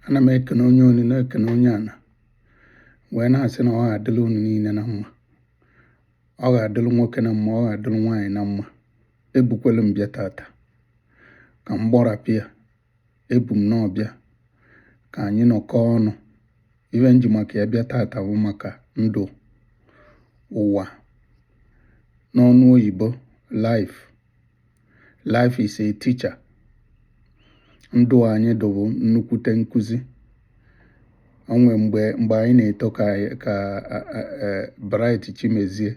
ana m ekene onye enu na-ekene onye ana wee na-asị na ọ ga-adịrị unu niile na mma ọ ga-adịrị nwoke na mma ọ ga-adịrị nwaanyị na mma ebukwelu m bịa tata ka m gbọrapịa ebu m n'ọbịa ka anyị nọkọọ ọnụ ife m ji maka ya bịa tata bụ maka ndụ ụwa n'ọnụ oyibo life life is a teacher ndụ anyị dụ bụ nnukwute nkụzi o nwe mgbe mgbe anyị na-eto ka ka Bright Chimezie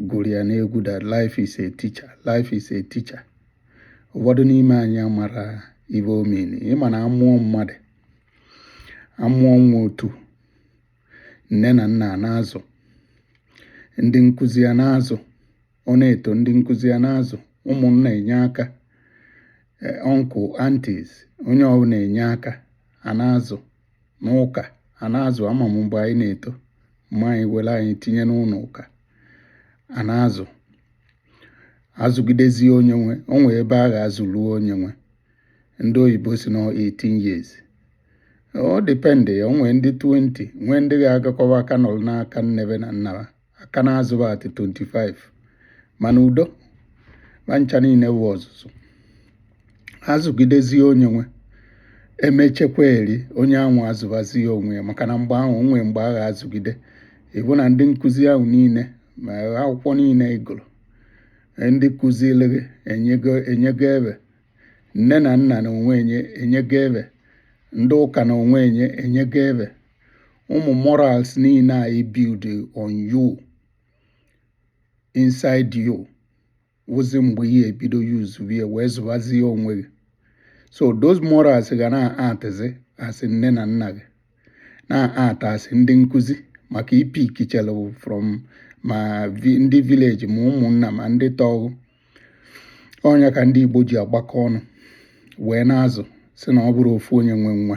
gụrụ ya n'egwu that life is a teacher life is a teacher ụfọdụ n'ime anyị amarọ ife ọ mean ị ma na a mụọ mmadụ a mụọ nwa otu nne na nna na-azụ ndị nkụzi ya na-azụ ọ na-eto ndị nkụzi ya na-azụ ụmụnna enye aka uncle eh, aunties onye ọbụna enye aka a na-azụ n'ụka a na-azụ ama m mgbe anyị na-eto mama anyị were anyị tinye n'ụlọ ụka a na-azụ azụgidezie onye nwe o nwee ebe a ga-azụlu onye nwe ndị oyibo sị na 18 years ọ depend o nwee ndị 20 nwee ndị ga-agakọwa aka nọrọ n'aka nne fa na nna fa a ka na-azụ fa at 25 mana udo ma ncha niile wụ ọzụzụ azụgidezie onye nwe e mechekwa eri onye ahụ azụbazie onwe ya maka na mgbe ahụ o nwe mgbe a ga-azụgide ịbụ na ndị nkụzi ahụ niile ma akwụkwọ niile ị gụrụ e ndị kụziri gị enyego enyego ebe nne na nna na onwe enye enyego ebe ndị ụka na onwe enye enyego ebe ụmụ morals niile a build on you inside you wụzi mgbe ị ya-ebido use bie wee zụbazie onwe gị so those morals ga na-actizi as nne na nna gị na-act as ndị nkụzi maka ị pickichelụ from ma ndị village ma ụmụnna ma ndị tọ gụ ọ nya ka ndị Igbo ji agbakọ ọnụ wee na-azụ sị na ọ bụrọ ofu onye nwe nwa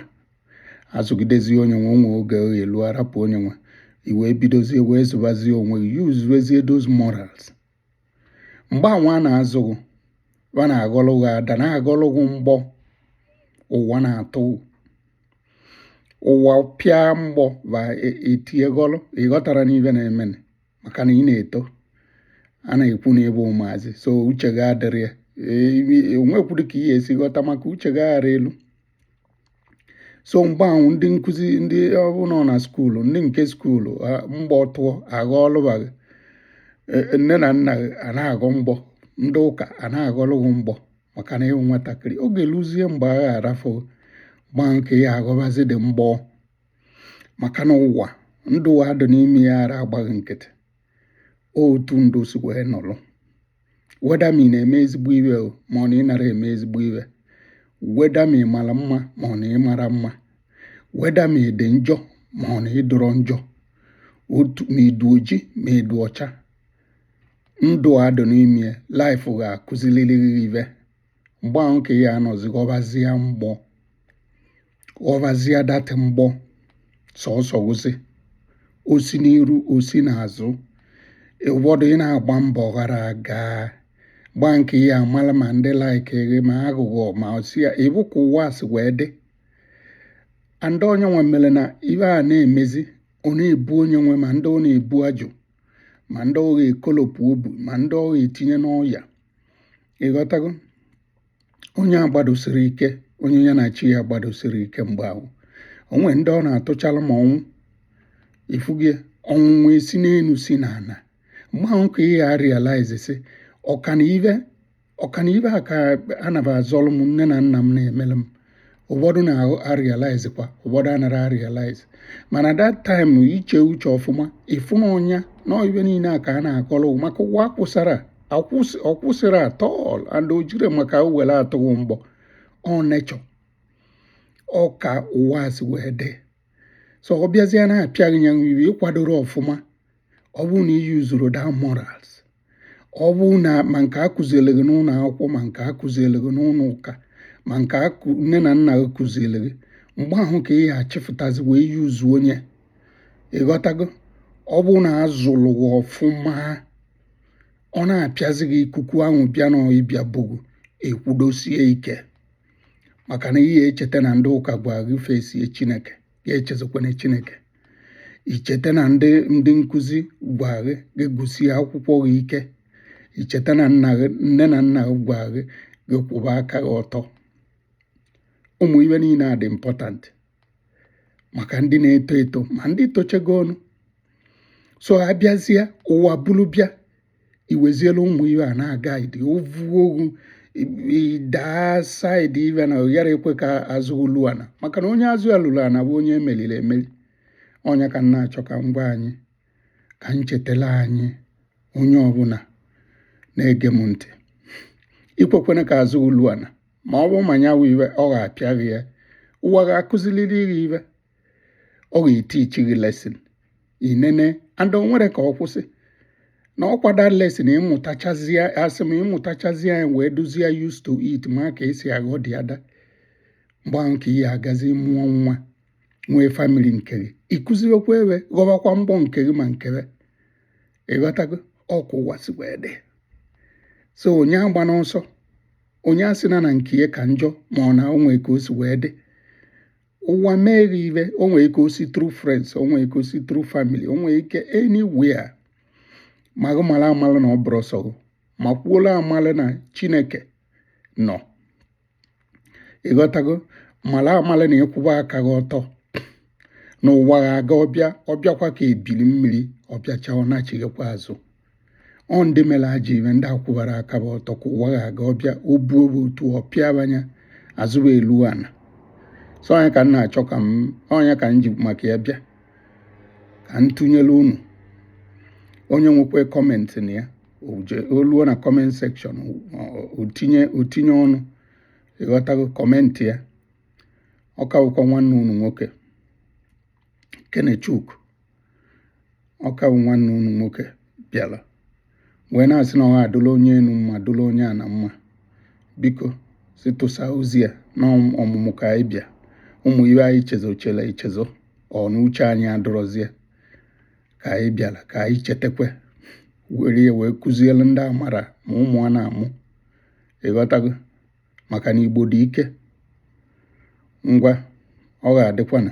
azụgidezie onye nwe o nwe oge ọ ga-elu a rapụ onye nwe ị wee bidozie wee zụbazie onwe gị usezie those morals mgbe anwa a na-azụ gị fa na-aghọlụ gị ada na-aghọlụ gị mgbọ ụwa na-atụ ụwa pịa mgbọ fa etie ghọlụ ị ghọtarọ ife na-eme maka na ị na-eto a na-ekwu na ị bụ ụmụazị so uche gị adịrọ ya o nwekwarọ ka ị ga-esi ghọta maka uche gị akarọ elu so mgbe ahụ ndị nkụzi ndị ọrụ nọ na skuulu ndị nke skuulu a- mgbọ tụọ aghọlụba gị E- e, nne na nna gị a na-aghọ mgbọ ndị ụka a na-aghọlụ gị mgbọ maka na ị wụ nwatakịrị oge luzie mgbe a ga-arafụ mgbe nke ị ya-aghọbazi the mgbọ maka na ụwa ndụ a dị n'ime ya ara agba gị nkịtị otu ndụ si wee nọrọ whether ma ị na-eme ezigbo ive ma ọ na ị nara eme ezigbo ive whether ma ị mara mma ma ọ na ị mara mma whether ma ị dị njọ ma ọ na ị dụrọ njọ otu ma ị dụ oji ma ị dụ ọcha ndụ a dụ n'ime life ga-akụziliriri ive mgbe ahụ ka ị ya-anọzi ghọbazie mgbọ ghọbazie that mgbọ sọsọ wụzi o si n'iru o si n'azụ ụfọdụ ị na-agba mbọ ọ ghara aga mgbe nke ị ya-amala ma ndị like gị ma aghụghọ ma asị ya bụ ka ụwa si wee dị and onye nwe mere na ibe a na-emezi ọ na-ebu onye nwe ma ndị ọ na-ebu ajụ ma ndị ọ ga-ekolopụ obu ma ndị ọ ga-etinye n'ọya ị ghọtago onye agbadosiri ike onye ya na chi ya agbadosiri ike mgbe ahụ o nwere ndị ọ na-atụchala ma ọnwụ ifugie ọnwụnwa esi n'elu si n'ala mgbe ahụ ka ị ya-arealize sị ọ kwanụ ive ọ kwanụ ive a ka a na-agba azọlụ m nne na nna m na-emere m ụfọdụ na-arealize kwa ụfọdụ anara arealize mana that time i chee uche ọfụma ị fụ na ọ ya na ibe niile a ka a na-akọrọ gị maka ụwa akwụsara ọ kwụsịrị at all and o jiri maka were atụ gị mgbọ ọ nature ọ ka ụwa si wee dị so ọ bịazie na-apịa gị ya iwe ị kwadoro ọfụma ọ bụrụ na ị useru the morals ọ bụ na ma nke a kụziere gị n'ụlọ akwụkwọ ma nke a kụziere gị n'ụlọ ụka ma nke nne na nna gị kụziere gị mgbe ahụ ka ị ya-achịfụtazi wee use onye ị ghọtago ọ bụ na a zụlụ gị ọfụma ọ na-apịazi gị ikuku ahụ bịa na ịbịa bu gị ị kwudosie ike maka na ị ya-echeta na ndị ụka gwa gị fesie Chineke gị echezọkwana Chineke i cheta na ndị ndị nkụzi gwa gị gị gụsie akwụkwọ gị ike i cheta na nna gị nne na nna gị gwa gị gị kwụba aka gị ọtọ ụmụ ibe niile a dị important maka ndị na-eto eto ma ndị tochegonụ so a bịazịa ụwa buru bịa iweziela ụmụ ive a na-aga idi o vuo gị daa side ive na ọ ghara ikwe ka azụ gị lu ana maka na onye azụ ya lulu ana bụ onye e meriri emeri ọ nya ka m na-achọ ka m gwa anyị ka m chetela anyị onye ọbụla na-ege m ntị ekwekwana ka azụ gị lu ana ma ọ bụ ma nya wụ ive ọ ga-apịa gị ya ụwa ga-akụziliri gị ive ọ ga-etichi gị lesson inene and o nwere ka ọ kwụsị na ọ kwa that lesson ịmụtachazie asị m ịmụtachazie ya wee dịzie used to it ma ka e si aghọ dị ada mgbe ahụ ka ị ya-agazi mụọ nwa nwee family nke gị ị kụziwekwa ve ghọbakwa mgbọ nke gị ma nke ve ịghọtago ọ ka ụwa si wee dị so onye agbana ọsọ onye asịna na nke ya ka njọ mana o nwe ka o si wee dị ụwa mee gị ive o nwere ike o si through friends o nwere ike o si through family o nwere ike anywhere ma gị mara amala na ọ bụrọ sọ gị makwuola amala na chineke nọ ịghọtago mara amala na ị kwụba aka gị ọtọ na ụwa ga-aga ọ bịa ọ bịakwa ka ebili mmiri ọ bịacha ọ nachighakwa azụ ọ ndị mere ajọ ive ndị akwụbara aka va ọtọ ka ụwa ga-aga ọ bịa obu obu otu ọ pịa va nya azụ va elu ana so ọ nya ka m na-achọ ka m ọ nya ka m ji maka ya bịa ka m tụnyere unu onye nwekwa comment nya o luo na comment section o tinye ọnụ ịghọtago comment ya ọ ka wụkwa nwanne unu nwoke Kenechukwu ọ ka bụ nwanne unu nwoke bịara wee na-asị na ọ ga-adụla onye enu mma dụla onye ana mma biko si tụsa ozi a na ọmụmụ ka anyị bịa ụmụ ive anyị chezochala echezo ọ na uche anyị adụrọzie ka anyị bịara ka anyị chetakwa were ya wee kụziere ndị amara ma ụmụ a na-amụ ịghọtago maka na Igbo dị ike ngwa ọ ga-adịkwa na